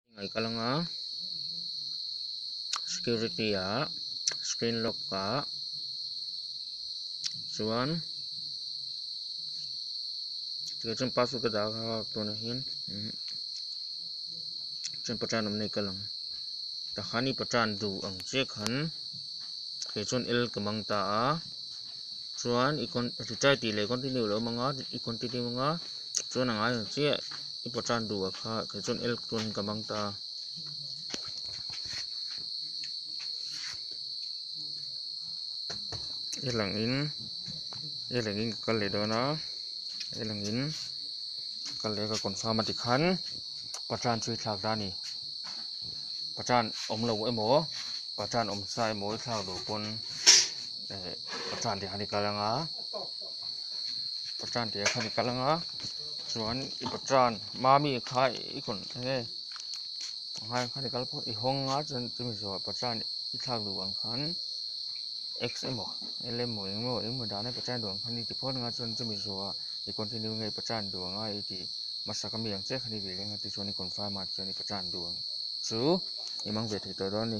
I ngaih ka la nga security a screen lock a chuan tikah chuan password ka dah a tun ah hian chuan patan awm na hi ka lang ta khan i patan duh ang che khan tikah chuan el ka mang ta a. chuan i con retire tih leh continue lo awm ang i continue mang a chuan a ngai ang chiah i pawhtan duhah kha kei chuan l tawnin ka mang ta a. e lang in e lang in ka kal leh dawn a e lang in ka kal leh a ka confirm a ti khan pahran chu i thlak ta a ni pahran awm loh emaw pahran awm sa emaw i thlak duh pawn. eh patan tih kha ni kal anga patan tih kha ni kal anga chuan i patan mami kha i kawn enge hmai kha ni kal pawh i hawng a chuan chumi zawh patan i thlak duh ang khan x emaw l emaw eng emaw eng emaw dan a i patan duh ang khan i ti phawt ang a chuan chumi zawha i continue nge i patan duh ang a i tih hmasa ka mi ang che khan i rileng a tichuan i confirm a tichuan i patan duh ang chu i mang ve thei tawh dawn a ni.